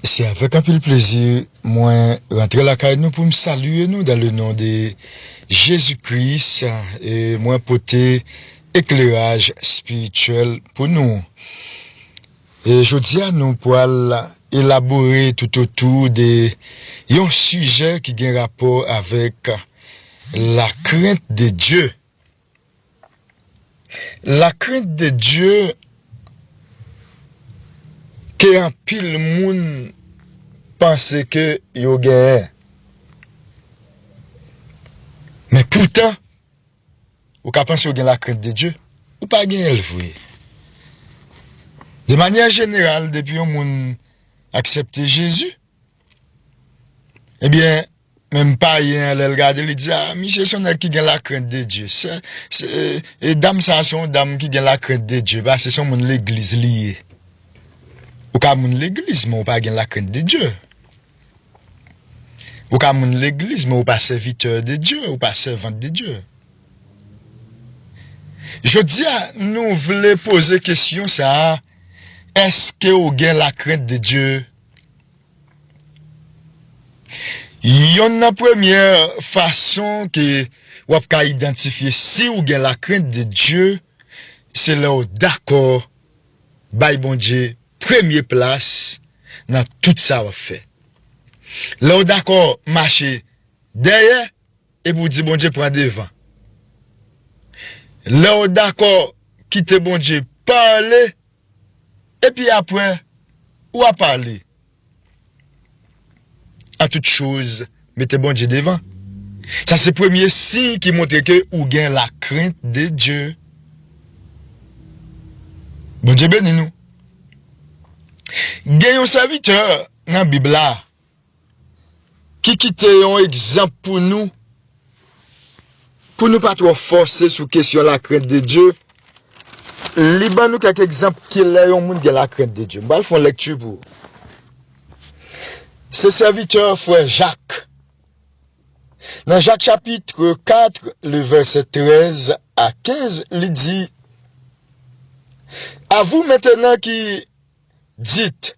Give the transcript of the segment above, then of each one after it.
Se avèk anpil plezi mwen rantre lakay nou poum salye nou dan le non de Jezi Kris e mwen pote ekleraj spirityèl pou nou. E jodia nou pwal elabore tout otou de yon sijè ki gen rapò avèk lakrent de Dye. La crainte de Dieu ke anpil moun panse ke yo genyen. Men poutan, ou ka panse ou gen la crainte de Dieu, ou pa genyen l vre. De manyè jeneral, depi yon moun aksepte Jezi, Ebyen, menm payen an lè l gade l, li di, a, misye se yon nèg ki gen lakrent de Dye. Se, se, e dam sa a se yon dam ki gen lakrent de Dye, pase se yon moun legliz li ye. Ou ka moun legliz men ou pa gen lakrent de Dye. Ou ka moun legliz men ou pa sèvitè de Dye, ou pa sèvant de Dye. Jodi a, nou vle poze kesyon sa a, èske ou gen lakrent de Dye? Yonn nan premyè fason ke wap ka idantifye siw gen la krent de Dye se lèw dakò bay Bondye premye plas nan tout sa wap fè. Lèw dakò mache dèyè Epi w di Bondye pran devan. Lè w dakò kite Bondye pale epi aprè ou a pale. An tout choz mete Bondye devan. Sa se premye siy ki montre ke ou gen la krent de Dye. Bondye beni nou. Gen yon sèvitè nan bib la ki kite yon egzanp pou nou, pou nou pa twò fòse sou kesyon lakrent de Dye, li ban nou kèk egzanp ki lè yon moun gen lakrent de Dye. M pral fè yon lekti pou ou. Se sèvitè frè Jak. Nan Jak chapitre 4, le vèsè 13 a 15, li di, A vous maintenant qui dites,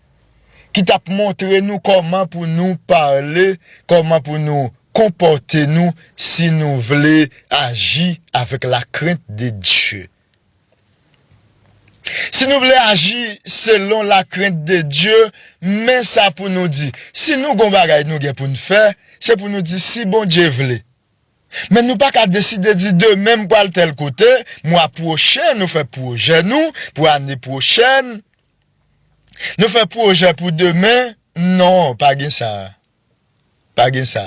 ki t ap montre nou kòman pou nou pale, kòman pou nou konpòte nou si nou vle aji avèk lakrent de Dye. Si nou vle aji selon lakrent de Dye, men sa pou nou di, si nou gen yon bagay nou gen pou n fè, se pou nou di si Bondye vle. Men nou pa ka deside di demen m pral tèl kote, mwa pwochen nou fè pwojè nou pou ane pwochèn, Nou fè pwojè pou demen, non, pa gen sa. Pa gen sa.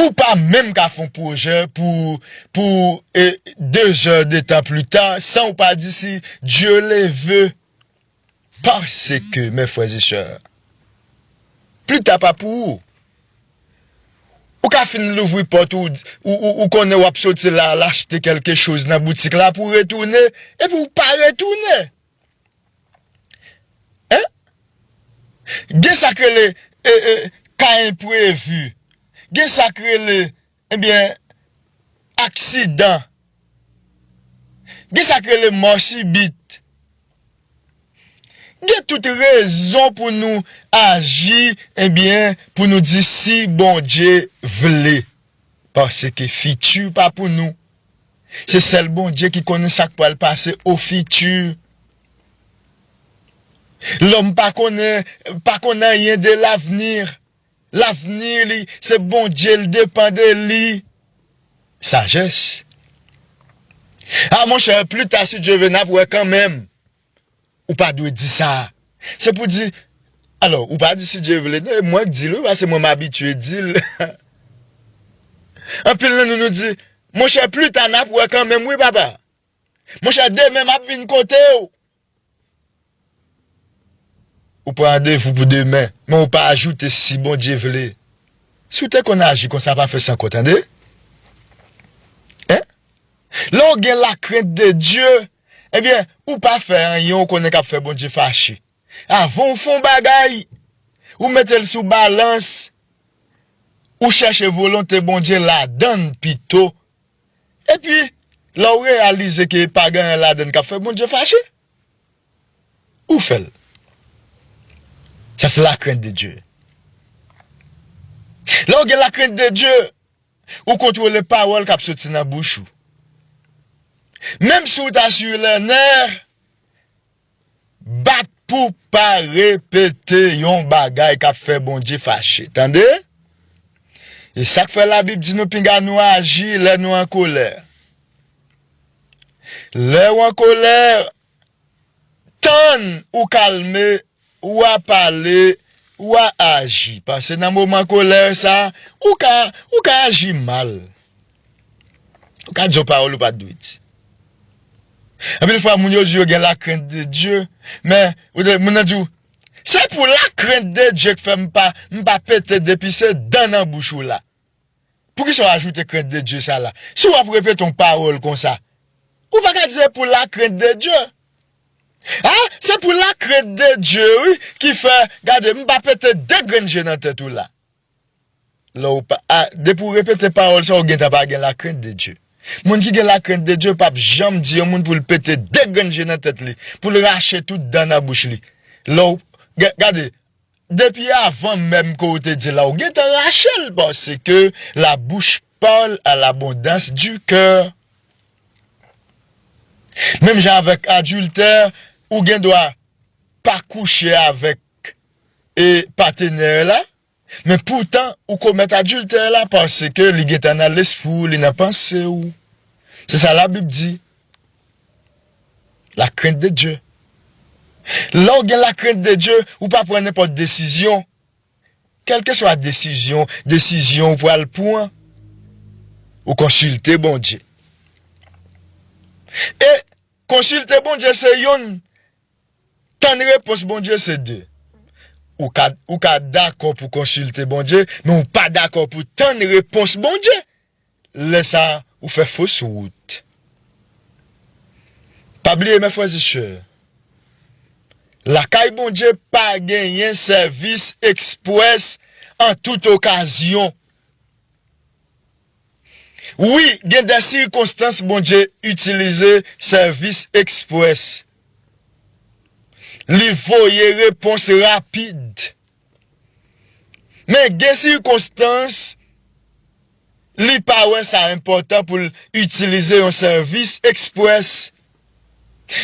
Ou pa menm ka fon pwojè pou, pou e, de zè de tan pli ta, san ou pa di si Dieu le veut. Pase ke, mè frè e sè, pli ta pa pou ou. Ou ka fin louvri pòt ou, ou, ou, ou konnen wap soti la al achte kèlke choz nan boutik la pou retounen, epi ou pa retounen. Hein? Gen sak rele ka enprevu, gen sak rele ebyen aksidan, gen sak rele mò sibit. Gen tout rezon pou nou aji ebyen pou nou di si Bondye vle. Paske fiti pa pou nou. Se sèl Bondye ki konnen sak pral pase au futur. Lòm pa konnen, pa konn anyen de l'avenir. L'avenir li se Bondye li depan de li. Sagesse. Ah monchè, plus tard si Dieu veut nap wè kanmenm. ou pa dwe di sa. Se pou di, alò, ou pa di si Dye vle non, e mwen k di l wi paske mwen m abitye di l. Anpil nan nou nou di, monchè pli ta n ap wè kanmenm wi papa. Monchè demen m ap vin kote w. Ou pran randevou pou demen, men ou pa ajoute si Bondye vle. Si w te konn aji konsa pa fè san kò tande. Lè w gen lakrent de Dye. Ebyen ou pa fè anyen ou konnen kap fè Bondye fache. Avan ou fè yon bagay, ou mete l sou balans, ou chèche volonte Bondye ladan l pito. Epi lè ou reyalize ke pa gen anyen ladan l kap fè Bondye fache, ou fè l. Sa se lakrent de Dye. Lè ou gen lakrent de Dye. Ou kontwole pawòl kap soti nan bouch ou. Menm si ou ta sur les nerfs, bat pou pa repete yon bagay kap fè Bondye fache. Tande? E sak fè la Bib di nou pinga nou aji lè nou an kolè. Lè ou an kolè, Tann ou kalme, ou a pale, ou a aji. Pase nan moman kolè sa, ou ka, ou ka aji mal. Ou ka di yon pawòl ou pat dwe di. Anpil fwa moun yo di yo gen la krent de Dye, men, moun nan di w, se pou la krent de Dye k fè m pa, m pa pete depi se dan nan bouch ou la. Poukisa w ajoute krent de Dye sa la? Si w ap repete yon pawòl konsa, ou pa ka di se pou la krent de Dye. A, se pou la krent de Dye wi ki fè, gade, m pa pete de grenn je nan tèt ou la. Lè w pa, a, depi w repete pawòl sa a, ou gentan pa gen la krent de Dye. Moun ki gen la krent de Dye pap janm di yon moun pou l pete de grenn je nan tèt li, pou l rache tout dan nan bouch li. Lè w, gade, Depi avan menm ke w te di la ou gentan rache l paske la bouche parle à l'abondance du cœur. Menm jan avèk adiltè ou gen dwa pa kouche avèk e patenè la men poutan ou komèt adiltè la paske li gentan nan lespri w li nan panse w se sa la bib di. La crainte de Dieu. Lè w gen la crainte de Dieu, ou pa pran nenpòt desizyon. Kèlke swa desizyon, desizyon ou pral pran, ou konsilte Bondye. E, konsilte Bondye se youn, tann repons Bondye se de. Ou ka, ou ka dakò pou konsilte Bondye, men ou pa dakò pou tann repons Bondye. lè sa ou fè fos wout. Pa bliye mè frè e sè, lakay Bondye pa genyen sèvis ekspwès an tout okazyon. Wi gen dè sikonstans Bondye itilize sèvis ekspwès. Li voye repons rapid. Men gen sikonstans li pa wè sa enpòtan pou l itilize yon sèvis eksprès,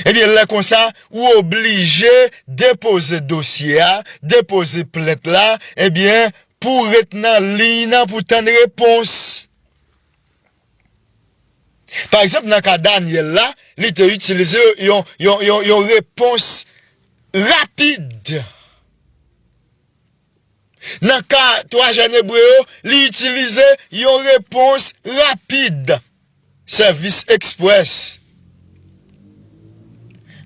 ebyen lè konsa ou oblije depoze dosye a, depoze plent la, ebyen pou w ret nan liy nan pou w tann repons. Pa egzanp, nan ka Dànyèl la, li te itilize yon repons rapid. Nan ka twa jèn Ebre yo, li itilize yon repons rapid, sèvis eksprès.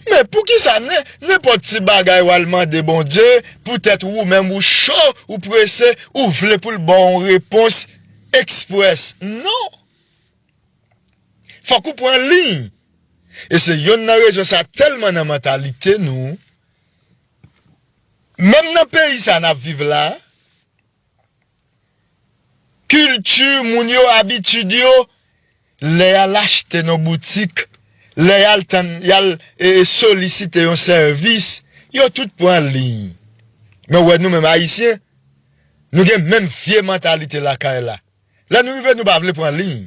Men poukisa nenpòt ti bagay wal mande Bondye poutèt wou menm wou cho wou prese wou vle poul baw yon repons express non fòk wou pran liy e se yonn nan rezon sa tèlman nan mantalite nou menm nan peyi sa nap viv la Kilti moun yo, abitid yo, lè y al achte nan boutik, lè y al tann, y al solisite yon sèvis, yo tout pran liy. Men w wè nou menm Ayisyen, nou gen menm vye mantalite lakay la. Lè nou rive nou pa vle pran liy.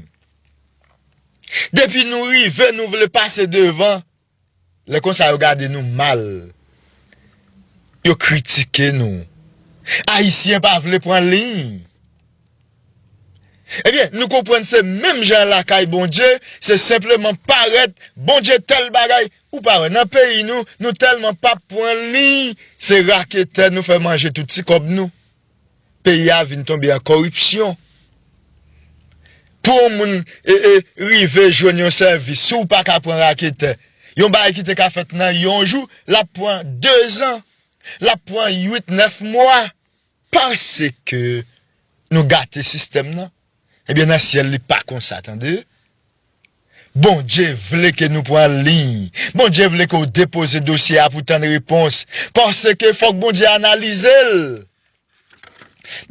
Depi nou rive nou vle pase devan. Lè konsa yo gade nou mal. Yo kritike nou. Ayisyen pa vle pran liy. Ebyen nou konprann se menm jan lakay Bondye se senpleman parèt Bondye tèl bagay ou pa wè nan peyi nou nou tèlman pa pran liy se raketè nou fè manje tout ti kòb nou. peyi a vin tonbe an koripsyon. Pou yon moun rive jwenn yon sèvis, si w pa ka pran raketè, yon bagay ki te ka fèt nan yon jou, l ap pran dezan, l ap pran uit, nèf mwa. Paske nou gate sistèm nan, Ebyen nan syèl li pa konsa tande. Bondye vle ke nou pran liy. Bondye vle ke w depoze dosye a pou tann repons. Paske fòk Bondye analize l.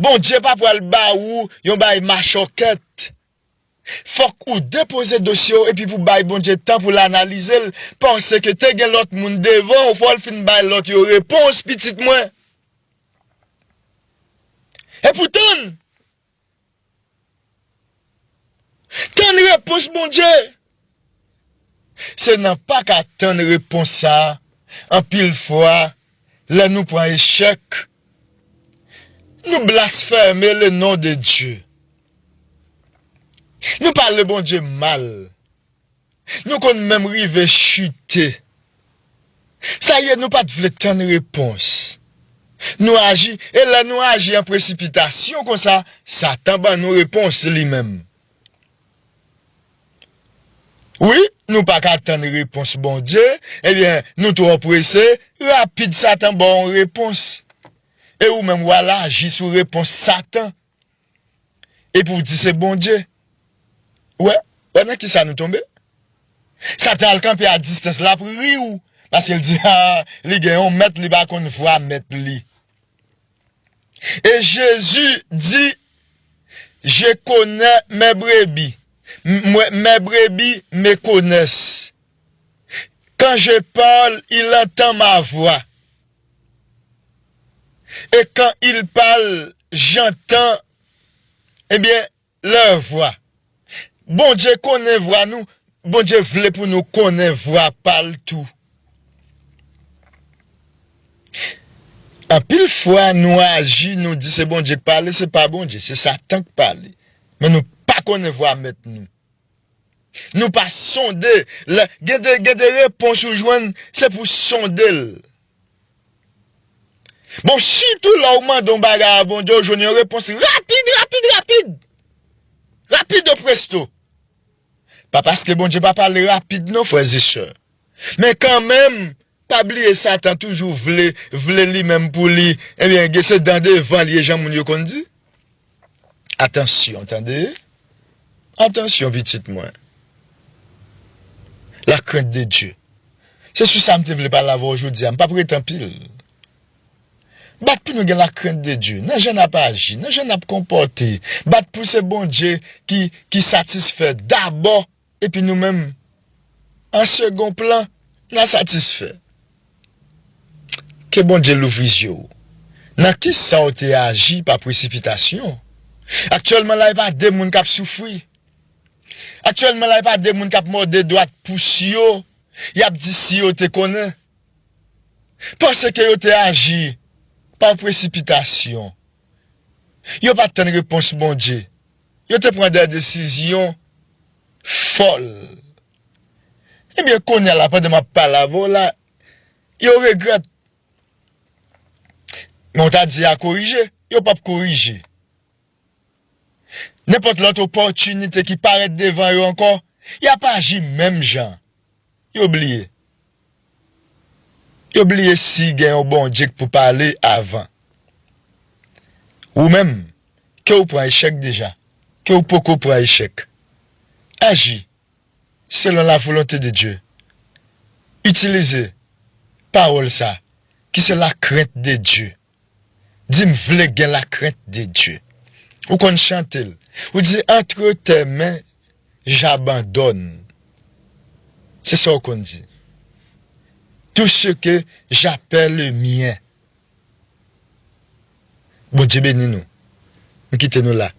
Bondye pa pral ba ou yon bagay machòkèt. Fòk ou depoze dosye w epi pou bay Bondye tan pou l analize l. Paske te gen lòt moun devan w fò l fin bay lòt yo repons pitit mwen. Epoutan! Tann repons Bondye! Se nan pa ka tann repons sa anpil fwa lè nou pran echèk, nou blasfème le nom de Dieu. Nou pale Bondye mal. Nou konn menm rive chute. Sa ye nou pat vle tann repons. Nou aji e lè nou aji an presipitasyon konsa satan ban nou repons li menm. Wi nou paka tann repons Bondye ebyen nou twò prese rapid satan baw on repons e ou menm wal aji sou repons satan Epi w di se Bondye. Ou wè, ou wè nan kisa nou tonbe? Satan al kanpe a distans, lap ri w, paske l di, ha, li gen yon mèt, li pa konn vwa mèt li. E Jezi di, Je konè mè brebi, mè brebi me konès. Kan je parle, il entend ma voix. Et quand ils parlent j'entends eh bien leur voix Bondye konnen vwa nou Bondye vle pou nou konnen vwa pal tou Anpil fwa nou aji nou di se Bondye k pale se pa Bondye se satan k pale men nou pa konnen vwa mèt nou. Nou pa sonde lè gen de gen de repons ou jwenn se pou sonde l. Bon sitou lè ou mande yon bagay a Bondye ou jwenn yon repons rapid rapid rapid. Rapido presto. Pa paske Bondye pa pale rapid non frè e sè. Men kanmenm pa bliye satan toujou vle vle li menm pou li ebyen gen se dan devan li ye jan moun yo konn di atansyon tande atansyon pitit mwen la krent de Dye se sou sa m te vle pale avè w jodi a m pap rete anpil bat pou nou gen la krent de Dye nan jan nap aji nan jan nap konpòte bat pou se Bondye ki ki satisfè dabò epi nou menm an segon plan nan satisfè. Ke Bondye louvri zye w nan kisa w te aji pa presipitasyon. Aktyèlman la e pa de moun kap soufri. Aktyèlman la e pa de moun kap mòde dwat pous yo yap di si yo te konnen. Panse ke yo te aji pa presipitasyon. Yo pat tann repons Bondye. yo te pran dè desizyon fòl. Ebyen kounya la pandan map pale avè w la yo regrèt. Men w ta di ya korije, yo pap korije. Nenpòt lòt opòtinite ki parèt devan yo ankò, yap aji menm jan. Yo bliye. Yo bliye si gen yon Bondye k pou pale avan. Ou menm, ke w pran echèk deja, ke w poko pran echèk, aji selon la volonte de Dye. Itilize pawòl sa ki se lakrent de Dye. Di m vle gen la krent de Dye. Ou konn chante l. Ou di antre tè men j'abandonne. Se sa ou konn di. Tout ce que j'appelle mien. Bondye beni nou. M kite nou la.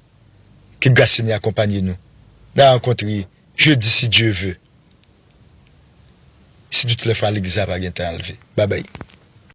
Ke gras Senyè akonpanye nou. N'a rankontre jedi si Dye ve. Si tout lè fwa legliz la pa gentan al ve. Babay.